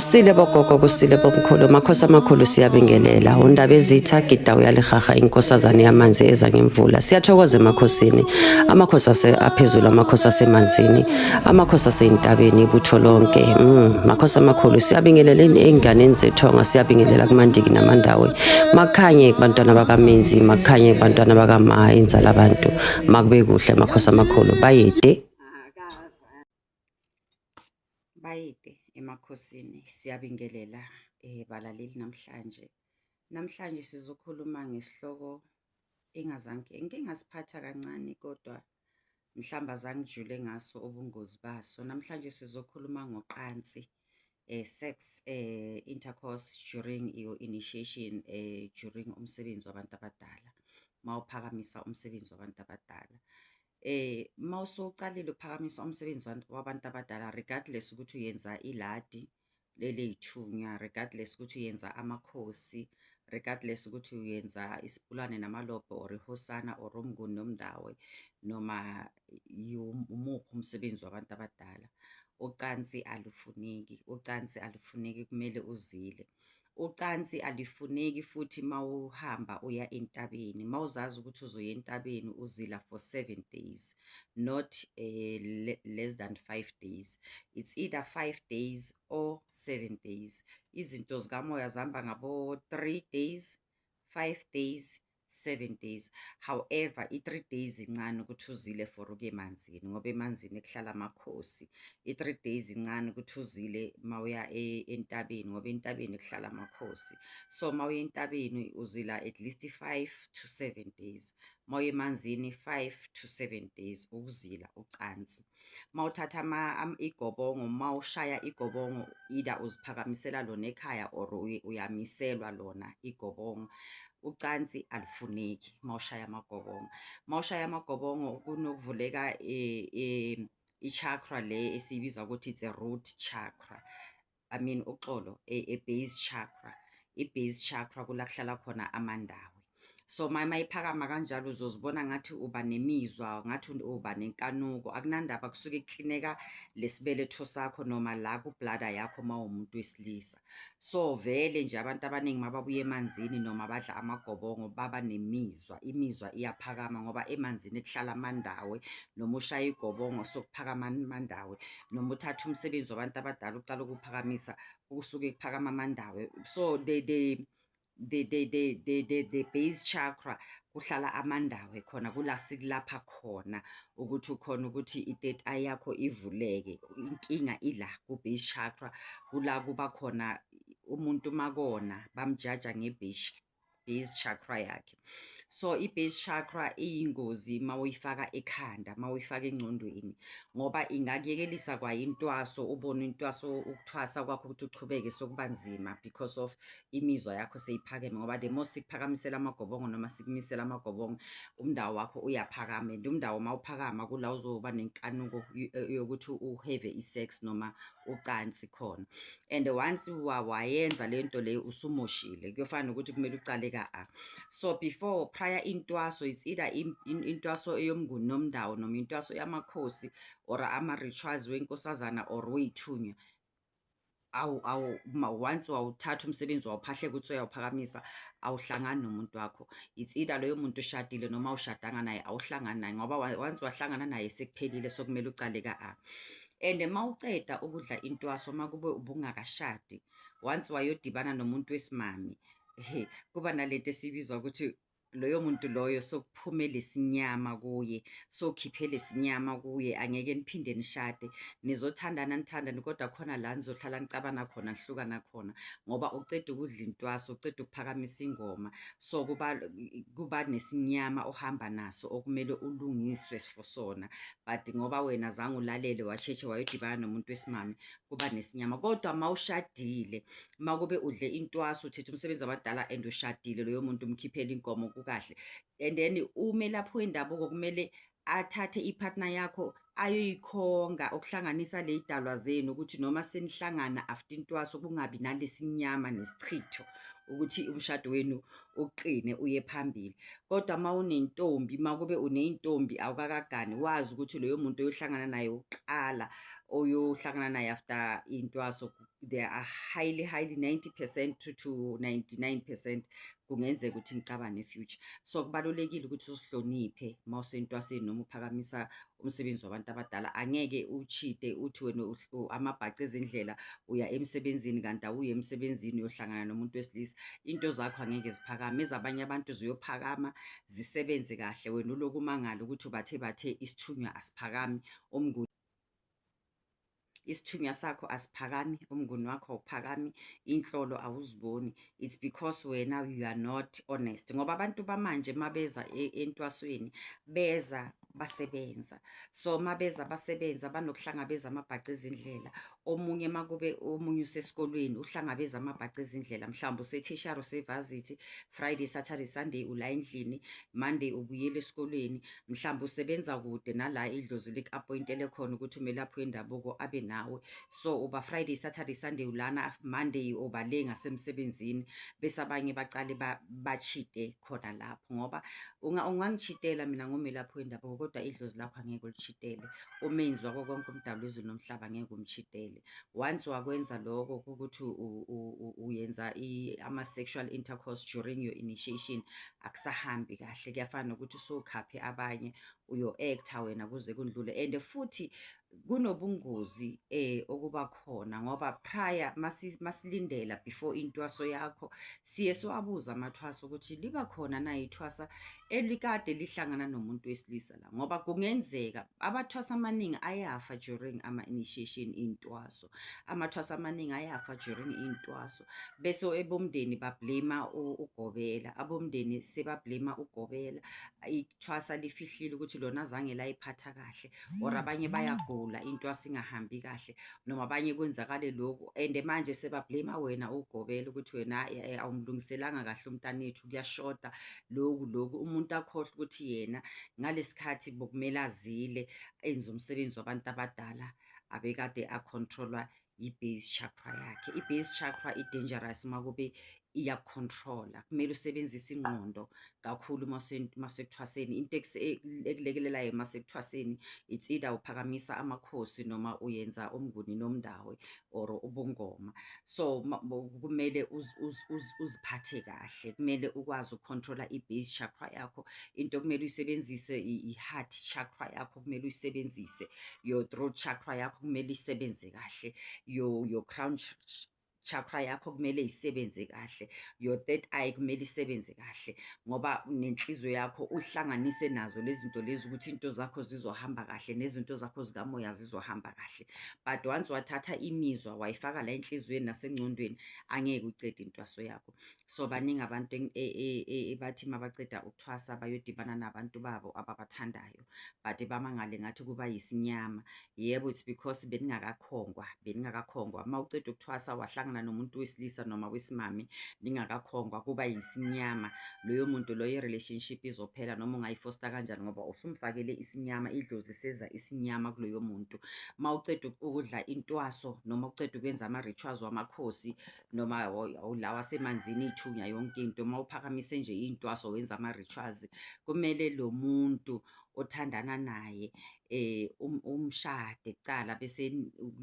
kusile bogogo kusile bomkhulu makhosi amakhulu siyabingelela undaba ezitha gida uyalihaha inkosazane yamanzi eza ngemvula siyathokoza emakhosini amakhosi ase aphezulu amakhosi asemanzini amakhosi aseyintabeni ibutho lonke mm, makhosi amakhulu siyabingelela ey'nganeni zethonga siyabingelela kumandiki namandawe makhanye kubantwana bakamenzi makhanye kubantwana bakama inzala abantu makube kuhle makhosi amakhulu bayede Bayede emakhosini siyabingelela eh, balaleli namhlanje. Namhlanje sizokhuluma ngesihloko engazange ngike ngasiphatha kancane kodwa mhlawumbe azangijule ngaso ubungozi baso. Namhlanje sizokhuluma ngoqansi eh, sex eh, intercourse during your initiation eh, during umsebenzi wabantu abadala mawuphakamisa umsebenzi wabantu abadala. Uma usuqalile ukuphakamisa umsebenzi wabantu abadala regardless ukuthi uyenza iladi leley'thunywa, regardless ukuthi uyenza amakhosi, regardless ukuthi uyenza isipulane namalobho or ihosana or umnguni nomndawo noma umuphi umsebenzi wabantu abadala, ucansi alufuneki, ucansi alufuneki kumele uzile. Ucansi alifuneki futhi mawuhamba uya entabeni mawuzazi ukuthi uzoya entabeni uzila for seven days not uh, le less than five days it's either five days or seven days izinto zikamoya zihamba ngabo-three days five days seven days however i-three days incane ukuthi uzile for uke emanzini ngoba emanzini kuhlala amakhosi i-three days incane ukuthi uzile uma uya e-, entabeni ngoba entabeni kuhlala amakhosi so uma uya entabeni uzila at least five to seven days uma uya emanzini five to seven days ukuzila ucansi uma uthatha igobongo uma ushaya igobongo either uziphakamisela lona ekhaya or uyamiselwa lona igobongo ucansi alufuneki uma ushaya amagobongo uma ushaya amagobongo kunokuvuleka e, e, i-chakra le esiyibiza ukuthi it's a root chakra I mean uxolo e, e base chakra i base chakra kula kuhlala khona amandawe so maye mayiphakama kanjalo uzozibona ngathi uba nemizwa ngathi uba nenkanuko akunandaba kusuke kuklineka lesibeletho sakho noma la kublada yakho uma umuntu wesilisa so vele nje abantu abaningi mababuya emanzini noma badla amagobongo baba nemizwa imizwa iyaphakama ngoba emanzini kuhlala amandawe noma ushaya igobongo sokuphakama amandawe noma uthathe umsebenzi wabantu abadala uqala ukuphakamisa kusuke kuphakama amandawo so they they the the the the the the base chakra kuhlala amandawo ekhona kula sikulapha khona ukuthi ukhona ukuthi i-third eye yakho ivuleke inkinga ila ku-base chakra kula kuba khona umuntu makona bamjaja nge-base base chakra yakhe so i-base chakra iyingozi uma uyifaka ekhanda uma uyifaka engcondweni ngoba ingakuyekelisa kwayintwaso ubone intwaso ukuthwasa kwakho ukuthi uchubeke sokuba nzima because of imizwa yakho seyiphakeme ngoba the more sikuphakamisela amagobongo noma sikumisela amagobongo umndawo wakho uyaphakama and umndawo uma uphakama kula uzoba nenkanuko eh, yokuthi uheve i-sex noma ucansi khona and once wayenza le nto leyo usumoshile kuyofana nokuthi kumele ucale ka-a so before prior intwaso it's either intwaso eyomnguni nomndawo noma intwaso yamakhosi or ama-rituals wenkosazana or weyithunywa awu awu once wawuthatha umsebenzi wawuphahleka ukuthi uyawuphakamisa awuhlangani nomuntu wakho it's either loyo muntu ushadile noma ushadanga naye awuhlangani naye ngoba once wahlangana naye sekuphelile sokumele ucale ka-a and uma uceda ukudla intwaso uma kube ubungakashadi once wayodibana nomuntu wesimami kuba nalento esiyibiza ukuthi loyo muntu loyo sokuphuma lesinyama kuye sokhiphe lesinyama kuye angeke niphinde nishade nizothandana nithandane kodwa khona la nizohlala nicabana khona nihlukana khona ngoba uceda ukudla intwaso uceda ukuphakamisa ingoma so kuba kuba nesinyama ohamba naso okumele ulungiswe for sona but ngoba wena zange ulalele washeshe wayodibana nomuntu wesimame kuba nesinyama kodwa uma ushadile uma kube udle intwaso uthetha umsebenzi wabadala and ushadile loyo muntu umkhiphela inkomo kukahle and then umelaphi wendabuko kumele athathe ipartner yakho ayoyikhonga okuhlanganisa le idalwa zenu ukuthi noma senihlangana after intwaso kungabi nalesinyama nesichitho ukuthi umshado wenu uqine uye phambili kodwa uma unentombi uma kube uneyintombi awukakagani wazi ukuthi loyo muntu oyohlangana naye uqala oyohlangana naye after intwaso they are highly highly 90 percent to, to 99 percent kungenzeka ukuthi ngicabane future so kubalulekile ukuthi usihloniphe uma usentwaseni noma uphakamisa umsebenzi wabantu abadala angeke uchite uthi wena amabhaca ezindlela uya emsebenzini kanti awuye emsebenzini uyohlangana nomuntu wesilisa into zakho angeke ziphakame ezabanye abantu ziyophakama zisebenze kahle wena uloku umangala ukuthi bathe bathe isithunywa asiphakami umnguni isithunywa sakho asiphakami umnguni wakho awuphakami inhlolo awuziboni it's because wena you are not honest ngoba abantu bamanje uma beza e, entwasweni beza basebenza so uma beza basebenza banokuhlangabeza amabhaca ezindlela omunye uma kube omunye usesikolweni uhlangabeza amabhaca ezindlela mhlawumbe usethishara usevazithi friday saturday sunday ula endlini monday ubuyela esikolweni mhlawumbe usebenza kude nala idlozi liku-appointele khona ukuthi umelaphi wendabuko abe nawe so uba friday saturday sunday ulana monday uba le ngasemsebenzini bese abanye bacale bachite khona lapho ngoba ungangichitela mina ngomelaphi wendabuko kodwa idlozi lakho angeke ulichitele umenzi wako konke umdalo izulu nomhlaba ngeke umchitele once wakwenza lokho ukuthi uyenza ama-sexual intercourse during your initiation akusahambi kahle kuyafana nokuthi usukhaphe abanye uyo-actor wena kuze kundlule and futhi kunobungozi eh okuba khona ngoba prior masilindela before intwaso yakho siye siwabuza amathwaso ukuthi liba khona na ithwasa elikade lihlangana nomuntu wesilisa la ngoba kungenzeka abathwasa amaningi ayafa during ama-initiation intwaso. amathwaso amaningi ayafa during iy'ntwaso bese ebomndeni bablema ugobela abomndeni sebablema ugobela ithwasa lifihlile ukuthi lona azange layiphatha kahle or abanye bayagula intwasa ingahambi kahle noma abanye kwenzakale lokhu and manje sebablema wena ugobela ukuthi wena eh, eh, awumlungiselanga kahle umntanethu kuyashoda loku loku umuntu akhohlwa ukuthi yena ngalesikhathi bokumele azile enze umsebenzi wabantu abadala abekade acontrolwa yi-base chakra yakhe. I-base chakra i-dangerous uma kube iyakucontrola. Kumele usebenzise ingqondo kakhulu uma usekuthwaseni. Into ekulekelelayo uma sekuthwaseni, it's either uphakamisa amakhosi noma uyenza umnguni nomndawe or ubungoma. So kumele uziphathe kahle, kumele ukwazi ukucontrola i-base chakra yakho. Into okumele uyisebenzise i-heart chakra yakho. yakho kumele uyisebenzise your throat chakra yakho kumele isebenze kahle your your crown chakra yakho kumele isebenze kahle your third eye kumele isebenze kahle ngoba nenhliziyo yakho uhlanganise nazo lezi zinto lezi ukuthi into zakho zizohamba kahle nezinto zakho zikamoya zizohamba kahle but once wathatha imizwa wayifaka la enhliziyweni nasengcondweni angeke ucede intwaso yakho so baningi abantu e, e, e, ebathi mabaceda ukuthwasa bayodibana nabantu babo ababathandayo but bamangale ngathi kuba yisinyama yebo it's because beningakakhongwa beningakakhongwa uma uceda ukuthwasa wahlangana nomuntu wesilisa noma wesimame ningakakhongwa kuba yisinyama loyo muntu loyo relationship izophela noma ungayifosta kanjani ngoba usumfakele isinyama idlozi seza isinyama kuloyo muntu uma uceda ukudla intwaso noma uceda ukwenza ama-rituals wamakhosi noma awulawa asemanzini ithunya yonke into uma uphakamise nje intwaso wenza ama rituals kumele lo muntu othandana naye eh um, umshade kuqala bese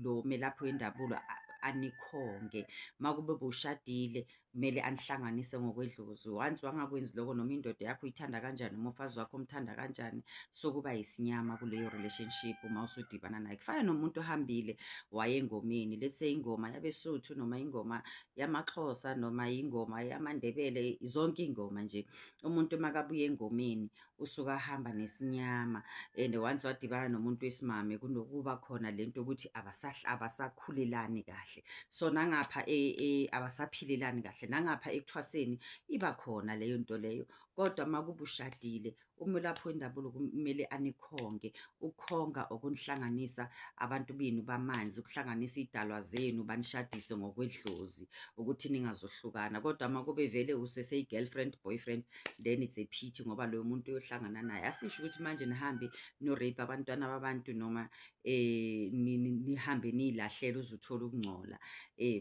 lo melaphi wendabulo anikhonge makube bushadile kumele anihlanganise ngokwedlozi once wangakwenzi lokho noma indoda yakho uyithanda kanjani noma ufazi wakho umthanda kanjani sokuba yisinyama kuleyo relationship uma usudibana naye kufana nomuntu ohambile waye engomeni let's say ingoma yabesuthu noma ingoma yamaxhosa noma ingoma yamandebele zonke ingoma nje umuntu makabuye engomeni usuka ahamba nesinyama and once wadibana nomuntu wesimame kunokuba khona lento ukuthi abasahla abasakhulelani kahle so nangapha e, e, abasaphilelani kahle nangapha ekuthwaseni iba khona leyo nto leyo kodwa makubushadile Umelaphi wendabulo kumele anikhonge. Ukukhonga okunihlanganisa abantu benu bamanzi, ukuhlanganisa iy'dalwa zenu, banishadise ngokwedlozi ukuthi ningazohlukana. Kodwa uma kube vele useseyi-girlfriend, boyfriend, then it's a pity ngoba loyo muntu uyohlangana naye. Asisho ukuthi manje nihambe niyo-rape abantwana babantu noma nihambe niy'lahlela uze uthole ukungcola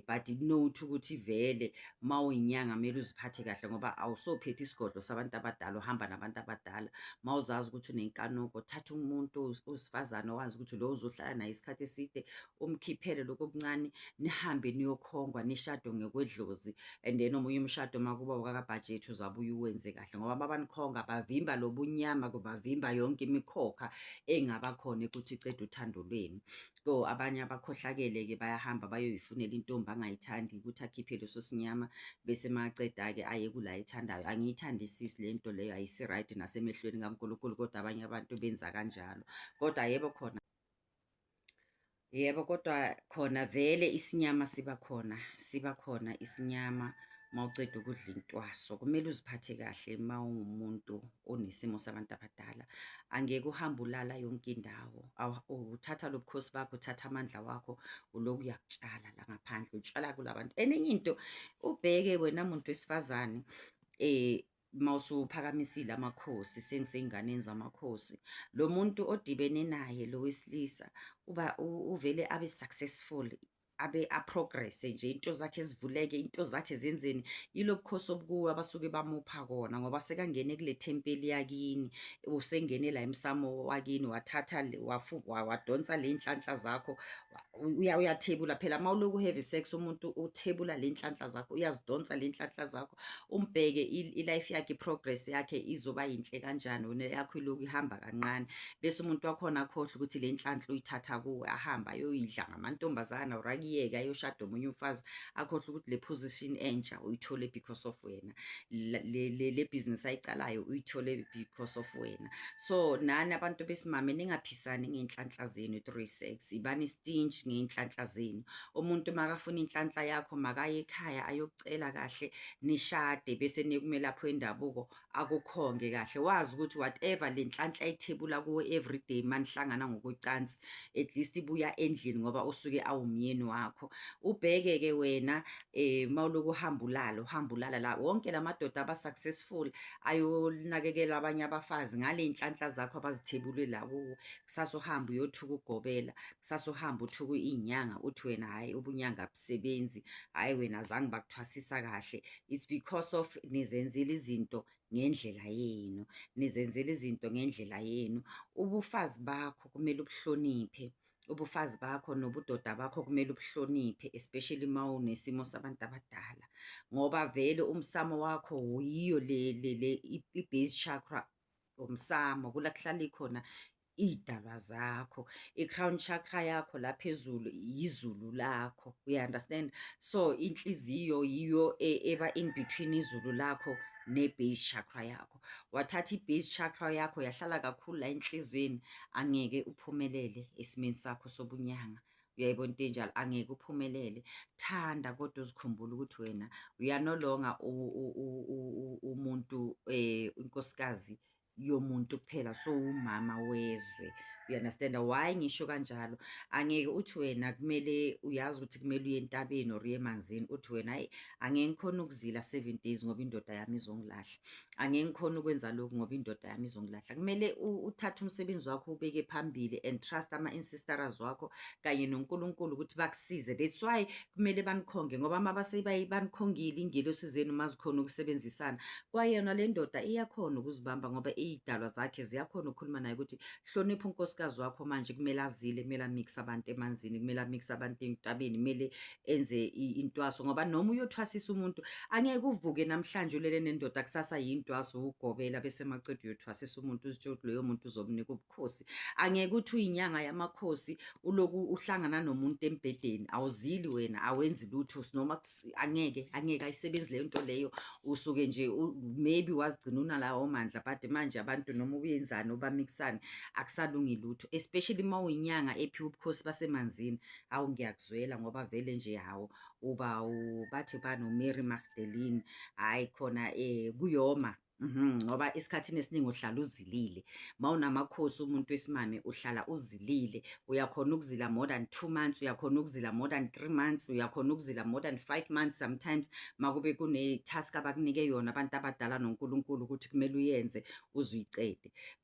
but note ukuthi vele uma uyinyanga kumele uziphathe kahle ngoba awusophethe isigodlo sabantu abadala uhamba nabantu abadala uma uzazi ukuthi unenkanuko thatha umuntu owesifazane owazi ukuthi lo uzohlala naye isikhathi eside umkhiphele lokho okuncane nihambe niyokhongwa nishado ngekwedlozi and then omunye umshado uma kuba wakakabhajethi uzabuye uwenze kahle ngoba babanikhonga bavimba lobunyama kubavimba yonke imikhokha engaba khona ukuthi iceda uthando lwenu so abanye abakhohlakele-ke bayahamba bayoyifunela intombi angayithandi ukuthi akhiphe leso sinyama bese maceda-ke aye kula ayithandayo angiyithandisisi le nto leyo ayisi-right nasemehlweni kankulunkulu kodwa abanye abantu benza kanjalo kodwa yebo khona Yebo kodwa khona vele isinyama siba khona, siba khona isinyama uma uceda ukudla intwaso. Kumele uziphathe kahle uma ungumuntu onesimo sabantu abadala. Angeke uhambe ulala yonke indawo. Uthatha lo bukhosi bakho, uthatha amandla wakho, uloku uyakutshala la ngaphandle, utshala kula bantu. Enye into ubheke wena muntu wesifazane um uma usuphakamisile amakhosi sengisey'nganeni zamakhosi lo muntu odibene naye lo wesilisa uba uvele abe successful abe aprogresse nje into zakhe zivuleke into zakhe zenzeni yilo bukhosi obukuwe abasuke bamupha kona ngoba sekangene kule thempeli yakini usengene la emsamo wakini wathatha wadonsa le nhlanhla zakho uya uyathebula phela uma uloku heavy sex umuntu uthebula le nhlanhla zakho uyazidonsa le nhlanhla zakho umbheke i-life yakhe i-progress yakhe izoba yinhle kanjani wena yakho iloku ihamba kancane bese umuntu wakhona akhohlwe ukuthi le nhlanhla uyithatha kuwe ahamba ayoyidla ngamantombazana or akuyeke ayoshada omunye umfazi akhohlwe ukuthi le position entsha uyithole because of wena le business ayicalayo uyithole because of wena so nani abantu besimame ningaphisani ngey'nhlanhla zenu through sex zibani stinch ngey'nhlanhla zenu. Umuntu makafuna inhlanhla yakho makaye ekhaya ayokucela kahle nishade bese nekumelaphi wendabuko akukhonge kahle. Wazi ukuthi whatever le nhlanhla ithebula kuwe everyday manihlangana ngokocansi at least ibuya endlini ngoba usuke awumyeni wakho. Ubheke-ke wena eh mawuloku uhamba ulala uhamba ulala la wonke lamadoda aba successful ayonakekela abanye abafazi ngale inhlanhla zakho abazithebulwe la kuwo kusasa uhamba uyothuka ugobela kusasa uhamba uthuka inyanga uthi wena hayi ubunyanga abusebenzi hayi wena zange bakuthwasisa kahle it's because of nizenzile izinto ngendlela yenu nizenzile izinto ngendlela yenu ubufazi bakho kumele ubuhloniphe ubufazi bakho nobudoda bakho kumele ubuhloniphe especially uma unesimo sabantu abadala ngoba vele umsamo wakho wuyiyo le le le i-base chakra umsamo kula kuhlala ikhona iy'dalwa zakho i-crown chakra yakho la phezulu yizulu lakho you understand so inhliziyo yiyo e, eba in between izulu lakho ne-base chakra yakho wathatha i-base chakra yakho yahlala kakhulu la enhlizweni angeke uphumelele esimeni sakho sobunyanga uyayibona into enjalo angeke uphumelele thanda kodwa uzikhumbule ukuthi wena uyanolonga umuntu um inkosikazi yomuntu kuphela so umama wezwe you understand why ngisho kanjalo angeke uthi wena kumele uyazi ukuthi kumele uye entabeni or uye emanzini uthi wena hayi angeke ngikhona ukuzila seven days ngoba indoda yami izongilahla angeke ngikhone ukwenza lokhu ngoba indoda yami izongilahla kumele uthathe umsebenzi wakho ubeke phambili and trust ama-insisteras wakho kanye nonkulunkulu ukuthi bakusize that's why kumele banikhonge ngoba uma banikhongile ingelosi zenu uma zikhona ukusebenzisana kwayona le ndoda iyakhona ukuzibamba ngoba iy'dalwa zakhe ziyakhona ukukhuluma naye ukuthi hlonipha unkosikazi wakho manje kumele azile kumele amikse abantu emanzini kumele amikse abantu entabeni kumele enze intwaso ngoba noma uyothwasisa umuntu angeke uvuke namhlanje ulele nendoda kusasa yintwaso ugobela bese maqeda uyothwasisa umuntu uzitshela ukuthi loyo muntu uzomnika ubukhosi angeke uthi uyinyanga yamakhosi uloku uhlangana nomuntu embhedeni awuzili wena awenzi lutho noma angeke angeke ayisebenzi leyo nto leyo usuke nje maybe wazigcina unalawo mandla but manje abantu noma ubuyenzani obamikisani akusalungi lutho especially uma uyinyanga ephiwa ubukhosi basemanzini Awu ngiyakuzwela ngoba vele nje hawu uba bathi bani uMary Magdalene hayi khona eh kuyoma mhm, ngoba mm -hmm. esikhathini esiningi uhlala uzilile uma unamakhosi umuntu wesimame uhlala uzilile uyakhona ukuzila more than two months uyakhona ukuzila more than three months uyakhona ukuzila more than five months sometimes makube kune-task abakunike yona abantu abadala nonkulunkulu ukuthi kumele uyenze uze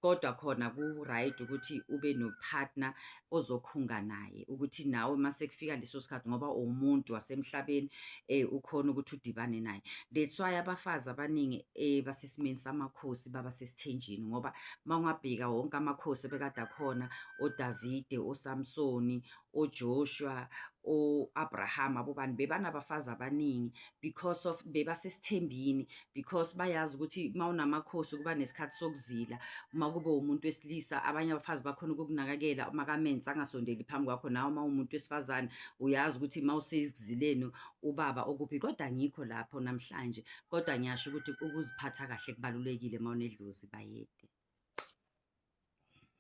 kodwa khona ku-right ukuthi ube nopartner ozokhunga naye ukuthi nawe mase kufika leso sikhathi ngoba uwumuntu wasemhlabeni eh ukhona ukuthi udibane naye that's why abafazi abaningi eh basesimeni samakhosi baba sesithenjini ngoba mawungabheka wonke amakhosi bekade akhona oDavide oSamsoni oJoshua o-Abraham abobani bebanabafazi abaningi because of bebasesithembini because bayazi ukuthi uma unamakhosi kuba nesikhathi sokuzila uma kube umuntu wesilisa abanye abafazi bakhona ukukunakekela uma kamenzi angasondeli phambi kwakho nawe uma umuntu wesifazane uyazi ukuthi uma usekuzileni ubaba okuphi kodwa ngikho lapho namhlanje kodwa ngiyasho ukuthi ukuziphatha kahle kubalulekile uma unedlozi bayede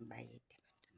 bayede